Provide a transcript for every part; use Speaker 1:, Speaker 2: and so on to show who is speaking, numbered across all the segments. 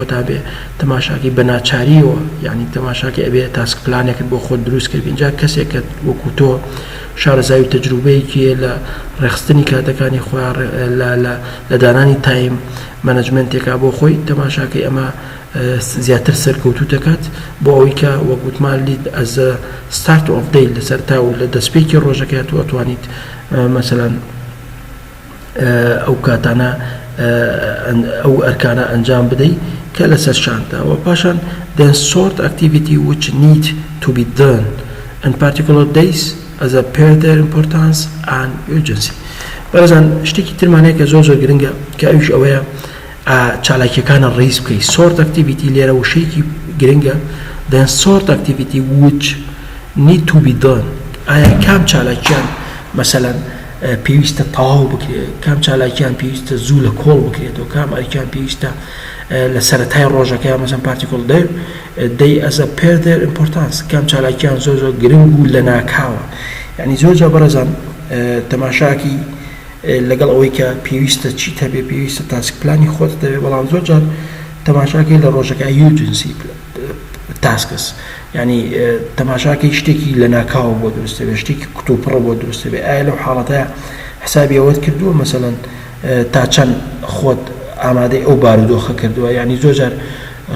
Speaker 1: کۆتا بێ تەماشاکەی بە ناچاریەوە یانی تەماشاکەی ئەبێ تاسک پلانێکت بۆ خۆت دروست کرد ئینجا کەسێکت وەکو تۆ شارەزاوی تەجروبەیەکی لە ڕێخستنی کاتەکانی خۆیان لە دانانی تایم مەنجمنتێکا بۆ خۆی تەماشاکەی ئەمە زیاتر سەرکەوتوو دەکات بۆ ئەوەی کە وەگوتمان لید ئەزە ستارت ئۆف دەی لەسەر تا و لە دەستپێکی ڕۆژەکەیات و ئەتوانیت مەسەلەن ئەو کاتانە ئەو ئەرکانە ئەنجام بدەی کە لەسەر شانتە و پاشان دەن سۆرت ئەکتیڤیتی وچ نیت تو بی دەن ئەن پارتیکولەر دەیس ئەز ئە پێر دەر ئیمپۆرتانس ئان ئیورجنسی بەڕێزان شتێکی ترمانەیە کە زۆر زۆر گرنگە کە ئەوش ئەوەیە چالاکیەکانە ڕیز بکەی سۆرت ئەکتیڤیتی لێرە وشەیەکی گرنگە دەن سۆرت ئەکتیڤیتی وچ نیت تو بی دەن ئایا کام چالاکیان مەسەلەن پێویستە تەواو بکرێت، کام چالاکیان پێویستە زوو لە کۆڵ بکرێتەوە، کام ئەرکیان پێویستە لە سەرەتای ڕۆژەکە یا مەسەن پارتیکۆڵ دەر دەی ئەزە پێر دەر ئیمپۆرتانس کام چالاکیان زۆر زۆر گرنگ و لە ناکاوە یعنی زۆر جا بەڕێزان تەماشاکی لەگەڵ ئەوەی کە پێویستە چی تەبێ پێویستە تاسک پلانی خۆت دەوێت بەڵام زۆر جار تەماشاکەی لە ڕۆژەکە یوجنسی تاسکس، یانی تەماشا کەی شتێکی لەناکاوە بۆ دروست دەبێت، شتێکی کوتوپڕە بۆ دروست دەبێت، ئایا لەو حاڵەتەیا حسابی ئەوەت کردووە مەسەلەن تا چەند خۆت ئامادەی ئەو بارودۆخە کردووە، یانی زۆر جار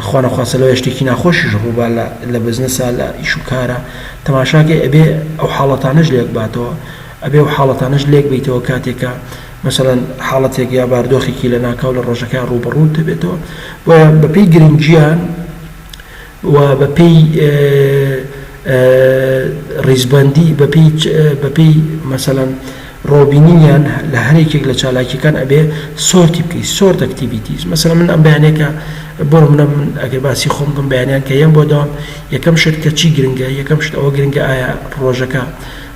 Speaker 1: خوا نەخواستە لەوەیە شتێکی ناخۆشیش ڕووبا لە بزنسا لە ئیش و کارا تەماشا کەی ئەبێ ئەو حاڵەتانەش لێک باتەوە، ئەبێ ئەو حاڵەتانەش لێک بەیتەوە کاتێک کە. مەسەلەن حاڵەتێک یا باردۆخێکی لەناکاو لە ڕۆژەکەیا ڕووبەڕووت دەبێتەوە، بۆیە بەپێی گرنگییان و بەپێی ڕیزبەندی بەپێی مەسەلەن ڕۆبینینیان لە هەریەکێک لە چالاکییەکان ئەبێ سۆرتی بکەی، Sort Activities، مەسەلەن من ئەم بەیانییە کە بۆ نموونە من ئەگەر باسی خۆم بکەم بەیانیان کە یەم بۆ دەوام یەکەم شت کە چی گرنگە یەکەم شت ئەوە گرنگە ئایا ڕۆژەکە،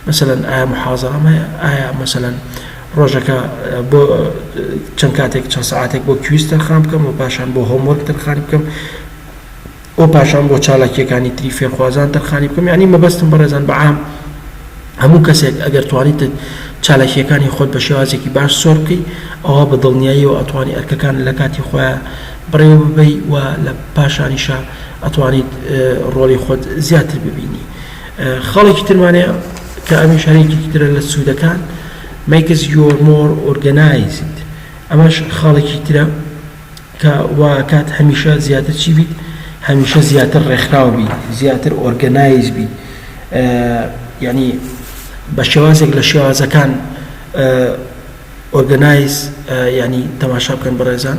Speaker 1: مەسەلەن ئایا موحازەرەم هەیە ئایا مەسەلەن ڕۆژەکە بۆ چەند کاتێک چەند سەعاتێک بۆ کویز تەرخان بکەم و پاشان بۆ هۆمۆرک تەرخانی بکەم و پاشان بۆ چالاکیەکانی تری فێرخوازان تەرخانی بکەم یعنی مەبەستم بەڕێزان بە عام هەموو کەسێک ئەگەر توانیت چالاکیەکانی خۆت بە شێوازێکی باش سۆر بکەی ئەوە بە دڵنیاییەوە ئەتوانی ئەرکەکان لە کاتی خۆیان بڕێوە ببەی و لە پاشانیشە ئەتوانیت ڕۆڵی خۆت زیاتر ببینی خاڵێکی ترمان هەیە کە ئەمیش هەر یەکێکی ترە لە سوودەکان makes your more organized ئەمەش خاڵێکی ترە کە واکات هەمیشە زیاتر چی بیت هەمیشە زیاتر ڕێکخراو بیت زیاتر ئۆرگەنایز بیت یعنی بە شێوازێک لە شێوازەکان ئۆرگەنایز ینی تەماشا بکەن بەڕێزان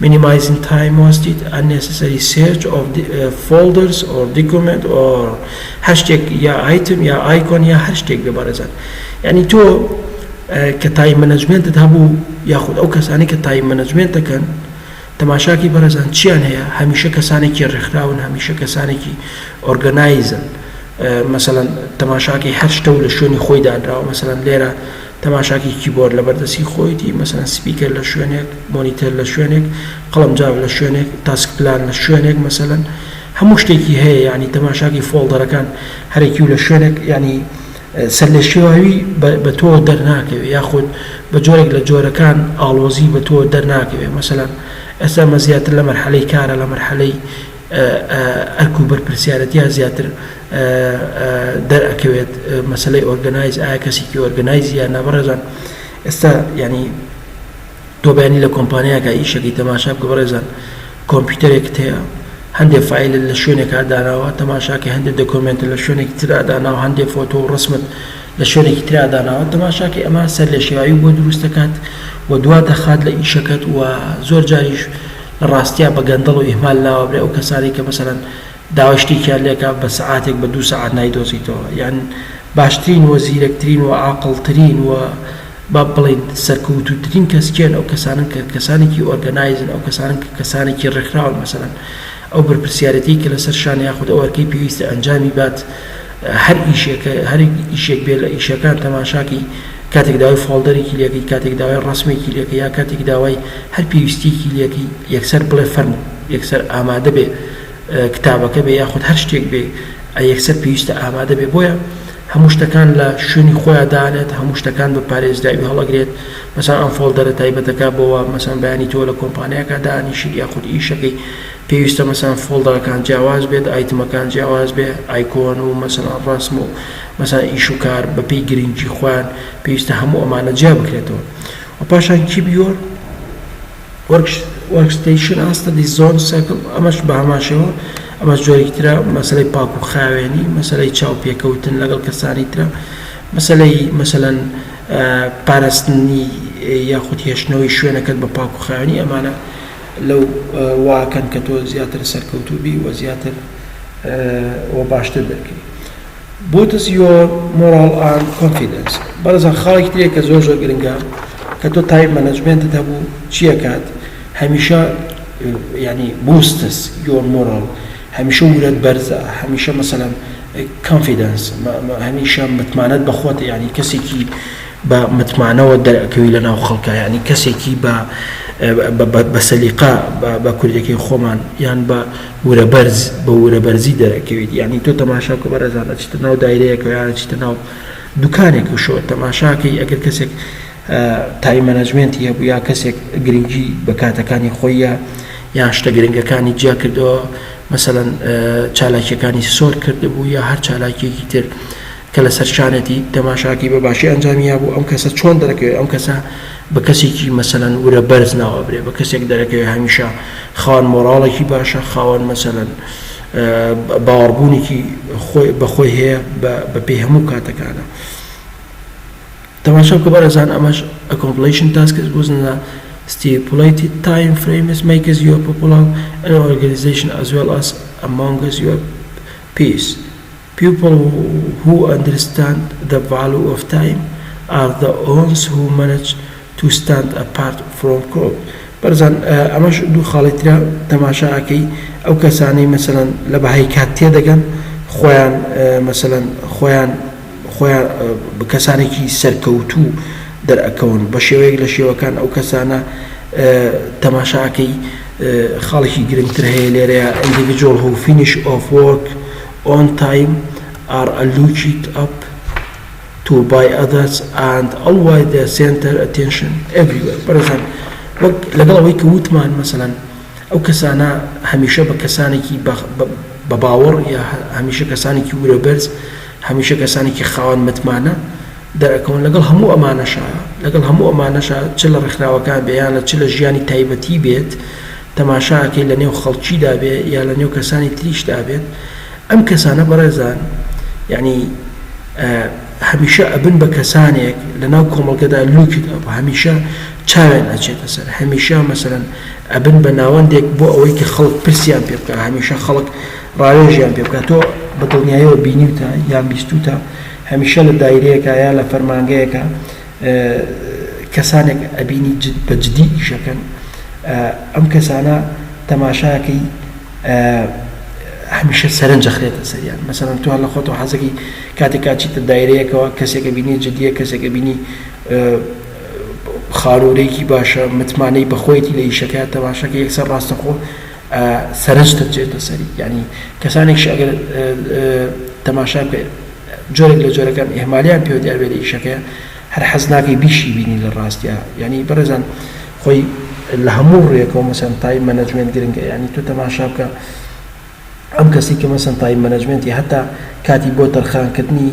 Speaker 1: Minimizing time wasted, unnecessary search of folders or documents or هەرشتێک یا ئایتم یا ئایکۆن یا هەر شتێک بێ بەڕێزان یانی تۆ کە تایم مەنەجمێنتت هەبوو یاخود ئەو کەسانی کە تایم مەنەجمێنت دەکەن تەماشاکی بەڕێزان چیان هەیە هەمیشە کەسانێکی ڕێکخراون هەمیشە کەسانێکی ئۆرگەنایزن مەسەلەن تەماشاکی هەر شتە و لە شوێنی خۆی دانراوە مەسەلەن لێرە تەماشاکەی کیبۆرد لەبەر دەستی خۆیەتی، مەسەلەن سپیکەر لە شوێنێک، مۆنیتەر لە شوێنێک، قەڵەمجاف لە شوێنێک، تاسک پلان لە شوێنێک مەسەلەن هەموو شتێکی هەیە یانی تەماشاکەی فۆڵدەرەکان هەرەکیو لە شوێنێک یانی سەرلێشێواوی بە تۆ دەرناکەوێ یاخود بە جۆرێک لە جۆرەکان ئاڵۆزی بە تۆ دەرناکەوێ مەسەلەن ئێستا مە زیاتر لە مەرحەلەی کارە لە مەرحەلەی ئەرک و بەرپرسیارەتیا زیاتر دەر ئەکەوێت مەسەلەی ئۆرگەنایز ئایا کەسیکی ئۆرگەنایز یان نا بەڕێزان ئێستا یانی تۆ بەیانی لە کۆمپانیاکە ئیشەکەی تەماشا بکە بەڕێزان کۆمپیوتەرێکت هەیە هەندێ فیلە لە شوێنێکا داناوە تەماشاکە هەندێ دەکۆمێنتە لە شوێنێکی تررا داناوە هەندێ فۆتۆ و ڕسمت لە شوێنێکی تررا داناوە تەماشاکە ئەمە سەر لێ شێواوی بۆ دروستەکات و دوا دەخات لە ئیشەکەت و زۆر جاریش لە ڕاستیا بە گەندەڵ و ئیهمال ناوە برێ ئەو کەسانەی کە مەسەلەن داوای شتێکیان لێکا بە سەعاتێک بە دوو سەعات نایدۆزیتەوە یان باشترین و زیرەکترین و عاقڵترین و با بڵێین سەرکەوتووترین کەس کێن ئەو کەسانن کە کەسانێکی ئۆرگەنایزن ئەو کەسانن کە کەسانێکی ڕێکخراون مەسەلەن ئەو بەرپرسیارێتیی کە لەسەر شان یاخود ئەو ئەرکەی پێویستە ئەنجامی بات هەر ئیشێک هەر ئیشێک بێت لە ئیشەکان تەماشاکەی کاتێک داوای فۆڵدەرێکی لێکەی کاتێک داوای ڕەسمێکی لێکەی یا کاتێک داوای هەر پێویستیەکی لێکەی یەکسەر بڵێ فەرموو یەکسەر ئامادە بێ کتابەکە بێ یاخود هەر شتێک بێ یەکسەر پێویستە ئامادە بێ بۆیە هەموو شتەکان لە شوێنی خۆیان دانێت هەموو شتەکان بە پارێزراوی هەڵەگرێت مەسان ئەم فۆڵدەرە تایبەتەکە بۆەوە مەسان بەیانی تۆ لە کۆمپانیاکە دانیشت یاخود ئیشەکەی پێویستە مەسەلەن فۆڵدەرەکان جیاواز بێت ئایتمەکان جیاواز بێ ئایکۆن و مەسەلەن ڕەسم و مەسەلەن ئیش و کار بەپێی گرنگی خۆیان پێویستە هەموو ئەمانە جیا بکرێتەوە و پاشان کیبیۆرد وەرک ستەیشن ئاستە دی زۆن سێکڵ ئەمەش بە هەمان شێوە ئەمەش جۆرێکی ترە مەسەلەی پاک و خاوێنی مەسەلەی چاو پێکەوتن لەگەڵ کەسانی ترە مەسەلەی مەسەلەن پاراستنی یاخود هێشتنەوەی شوێنەکەت بە پاک و خاوێنی ئەمانە لەو واکەن کە تۆ زیاتر سەرکەوتوو بی و زیاتر و باشتر دەرکەی بوتس یۆر مۆراڵ ئاند کۆنفیدنس بەڕێزان خاڵێکی ترێک کە زۆر زۆر گرنگە کە تۆ تایم مەنەجمنتت هەبوو چیەکات هەمیشە ینی بوستس یۆر مۆراڵ هەمیشە ورەت بەرزە هەمیشە مەسەلەن کۆنفیدنس هەمیشە متمانەت بەخۆت ینی کەسێکی بە متمانەوە دەرئەکەوی لە ناو خەڵکا یانی کەسێکی بە بە بە سەلیقە بە بە کوردەکەی خۆمان یان بە ورە بەرز بە ورە بەرزی دەرەکەویت یانی تۆ تەماشا کە بەڕێزان ئەچیتە ناو دایرەیەکە یان ئەچیتە ناو دوکانێک و شۆ تەماشاکەی ئەگەر کەسێک تای مەنەجمێنتی هەبوو یا کەسێک گرنگی بە کاتەکانی خۆی یا یان شتە گرنگەکانی جیا کردەوە مەسەەن چالاکیەکانی سۆر کردبوو یا هەر چالاکیەکی تر کە لە سەرشانێتی تەماشاکەی بە باشی ئەنجامی یابوو ئەم کەسە چۆن دەرەکەوێ ئەم کەسە بە کەسێکی مەسەلەن ورە بەرز ناو ئەبرێ بە کەسێک دەرەکەوێ هەمیشە خاوەن مۆراڵێکی باشە خاوەن مەسەلەن باوەڕبوونێکی خۆی بە خۆی هەیە بە پێی هەموو کاتەکانە تەماشا بکە بەڕێزان ئەمەش ئەکۆمپلیشن تاسکس بوزنە stipulated time frames makes your popular an organization as well as among your peers People who understand the value of time are the ons who manage to stand apart from crowd بەڕێزان ئەمەش دوو خاڵی ترە تەماشا ئەکەی ئەو کەسانەی مەسەلەن لە بەهای کات تێدەگەن خۆیان مەسەلەن خۆیان خۆیان کەسانێکی سەرکەوتوو دەرئەکەون بە شێوەیەک لە شێوەکان ئەو کەسانە تەماشا ئەکەی خاڵێکی گرنگتر هەیە لێرەیە individual who finish of work ئۆن تایم ئار ئە لوجیک ئەپ تو بای ئەدەرس ئەند ئەلوای دە سێنتەر ئەتێنشن ئێڤریوێر بەڕێزان وەک لەگەڵ ئەوەی کە وتمان مەسەلەن ئەو کەسانە هەمیشە بە کەسانێکی بە باوەڕ یا هەمیشە کەسانێکی ورە بەرز هەمیشە کەسانێکی خاوەن متمانە دەرەکەون لەگەڵ هەموو ئەمانەشا لەگەڵ هەموو ئەمانەشا چ لە ڕێکخراوەکان بێ یان لە چ لە ژیانی تایبەتی بێت تەماشا ئەکەی لە نێو خەڵکیدا بێ یا لە نێو کەسانی تریشدا بێت ئەم کەسانە بەڕێزان یانی هەمیشە ئەبن بە کەسانێک لە ناو کۆمەڵگەدا لوکت ئەپ هەمیشە چاوێن ئەچێتە سەر هەمیشە مەسەرەن ئەبن بە ناوەندێک بۆ ئەوەی کە خەڵک پرسیان پێ بکە هەمیشە خەڵک ڕاوێژیان پێ بکە تۆ بە دڵنیایەوە بینیوتە یان بیستوتە هەمیشە لە دایرەیەکە یا لە فەرمانگەیەکە کەسانێک ئەبینی جد بە جدی ئیشەکەن ئەم کەسانە تەماشاکەی هەمیشە سەرنج دەخرێتە سەریان مەسەرەن تو هەر لە خۆتەوە حەزەکی کاتێک کاچیتە دایرەیەکەوە کەسێکە بینی جدیە کەسێکە بینی خارورێکی باشە متمانەی بەخۆیەتی لە ئیشەکە تەماشاکە یەکسەر ڕاستەخۆ ئە سەرنجتت جێتە سەری یانی کەسانێکش ئەگەر تەماشا بکەی جۆرێک لە جۆرەکان ئیهمالیان پێوە دیار بێ لە ئیشەکەیا هەر حەز ناکەی بیشی بینی لە ڕاستیا یانی بەڕێزان خۆی لە هەموو ڕوویەکەوە مەسەن تایم مەنەجمێنت گرنگە یانی تۆ تەماشا بکە ئەم کەسی کە مەسەن تایم مەنەجمێنتی هەتا کاتی بۆ تەرخانکردنی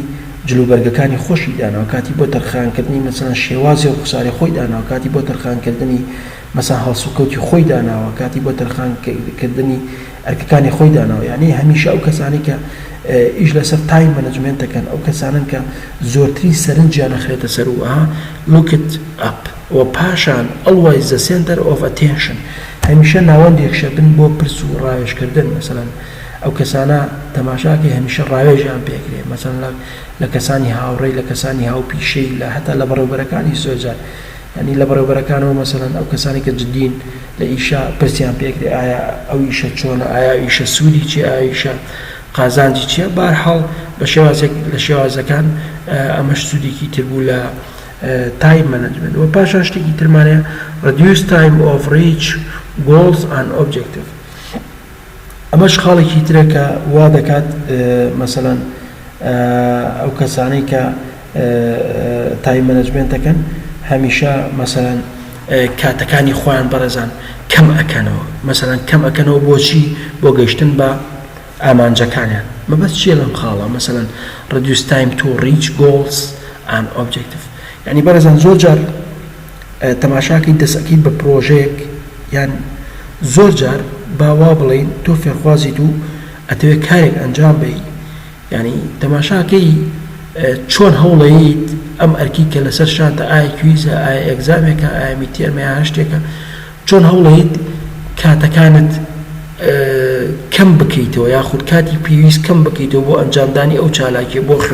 Speaker 1: جلوبەرگەکانی خۆشی داناوە کاتی بۆ تەرخانکردنی مەسەن شێوازی ڕوخساری خۆی داناوە کاتی بۆ تەرخانکردنی مەسەن هەڵسوکەوتی خۆی داناوە کاتی بۆ تەرخان کردنی ئەرکەکانی خۆی داناوە یانی هەمیشە ئەو کەسانەی کە ئیش لەسەر تایم مەنجمێنت دەکەن ئەو کەسانەن کە زۆرترین سەرنجیان ئەخرێتە سەر و ئەها لوکت ئەپ وە پاشان ئەڵوەیس زە سێنتەر ئۆف ئەتێنشن هەمیشە ناوەندێکشە بن بۆ پرس و ڕاوێژ کردن مەسەن ئەو کەسانە تەماشاکەی هەمیشە ڕاوێژیان پێکرێ مەسەن لە کەسانی هاوڕێی لە کەسانی هاوپیشەی لە هەتا لە بەڕێوبەرەکانیش زۆرجار یانی لە بەڕێوبەرەکانەوە مەسەلەن ئەو کەسانەی کە جدین لە ئیشە پرسیان پێ ئەکرێ ئایا ئەو ئیشە چۆنە ئایا ئیشە سوودی چیە ئایا ئیشە قازانجی چیە بەرحاڵ بە شێوازێک لە شێوازەکان ئەمەش سوودێکی تر بوو لە تایم مەنجمێنت وە پاشان شتێکی ترمان هەیە ڕدیوس تایم ئۆف ڕیچ گۆڵز ئەن ئۆبجێکتیڤ ئەمەش خاڵێکی ترە کە وا دەکات مەسەلەن ئەو کەسانەی کە تایم مەنەجمێنت دەکەن هەمیشە مەسەلەن کاتەکانی خۆیان بەڕێزان کەم ئەکەنەوە مەسەلەن کەم ئەکەنەوە بۆچی بۆ گەشتن بە ئامانجەکانیان مەبەست چیە لەم خاڵە مەسەلەن ڕدیوس تایم تو ڕیچ گۆڵس ئان ئۆبجێکتیف یعنی بەڕێزان زۆر جار تەماشاکەی دەسەکەیت بە پرۆژەیەک یان زۆر جار با وابڵێین تۆ فێرخوازیت و ئەتەوێت کارێک ئەنجام بەی یانی تەماشاکەی چۆن هەوڵەیت ئەم ئەرکی کە لەسەر شانتە ئایا کویزە ئایا ئێگزامێکە ئایا میتێرمە یان هەر شتێکە چۆن هەوڵەیت کاتەکانت کەم بکەیتەوە یاخود کاتی پێویست کەم بکەیتەوە بۆ ئەنجامدانی ئەو چالاکیە بۆ خوێندن.